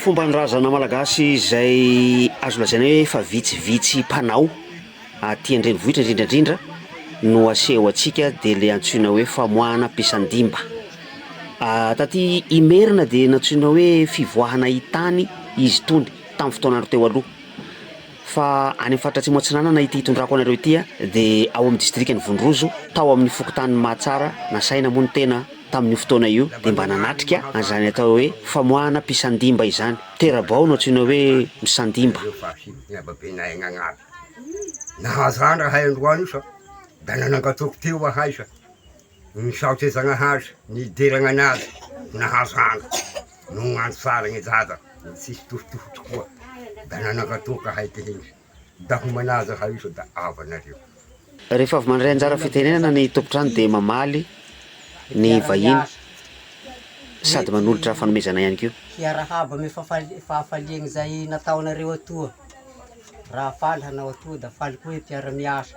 Fomban-drazana malagasy izay azo lazaina hoe efa vitsivitsy mpanao aty an-drenivohitra indrindra indrindra no aseho antsika dia ilay antsoina hoe famoahana am-pisan-dimba. Taty Imerina dia nantsoina hoe fivoahana hitany izy itony tamin'ny fotoana teo aloha. Fa any amin'ny faritra Atsimo Atsinanana ity hitondrako anareo ity dia ao amin'ny distrikan'i Vondrozo, tao amin'ny fokontanin'i Mahatsara, nasaina moa ny tena tamin'io fotoana io dia mba nanatrika an'izany atao hoe famoahana mpisandimba izany. Tera-bao no antsoina hoe misandimba. Nahazo andra ahay androany io sa da nanangatoko teo ahay sa. Misaotra Zagnahary nideragna anazy nahazo hanga no andro tsara gne Dada tsisy tohotoho tokoa da nanankato ka hay tehina da ho manaja ha iso da ava nareo. Rehefa avy mandray anjara fitenenana ny tompon-trano dia mamaly ny vahiny sady manolotra fanomezana ihany koa. Hiarahaba amy fahafaliagna izay nataonareo atoa. Raha faly hanao atoa da faly koa ny mpiara-miasa.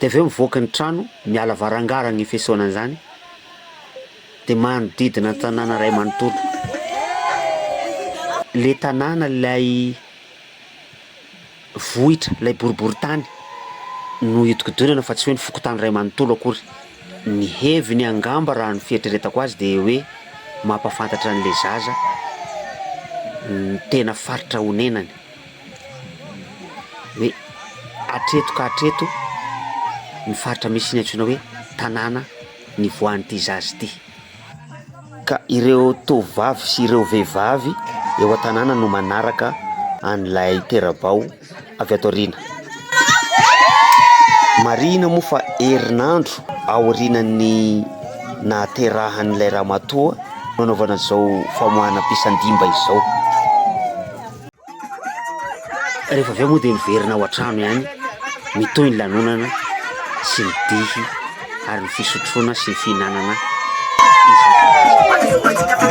Dia avy eo mivoaka ny trano, miala varangarana io fisaonana izany, dia manodidina ny tanàna iray manontolo. Ilay tanàna, ilay vohitra, ilay boriborintany no iodikodinana fa tsy hoe ny fokontany iray manontolo akory. Ny heviny angamba raha ny fieritreretako azy dia hoe mampahafantatra an'ilay zaza ny tena faritra onenany. hoe hatreto ka hatreto ny faritra misy ny antsoina hoe tanàna nivoahan'ity zaza ity, ka ireo tovovavy sy ireo vehivavy eo an-tanàna no manaraka an'ilay tera-bao avy ato aoriana, marihina moa fa herinandro aorianan'ny nahaterahan'ilay ramatoa no nanaovana izao famoahana mpisan-dimba izao. Rehefa avy eo moa dia miverina ao an-trano ihany mitohy ny lanonana sy ny dihy ary ny fisotroana sy ny fihinanana isan-karazany.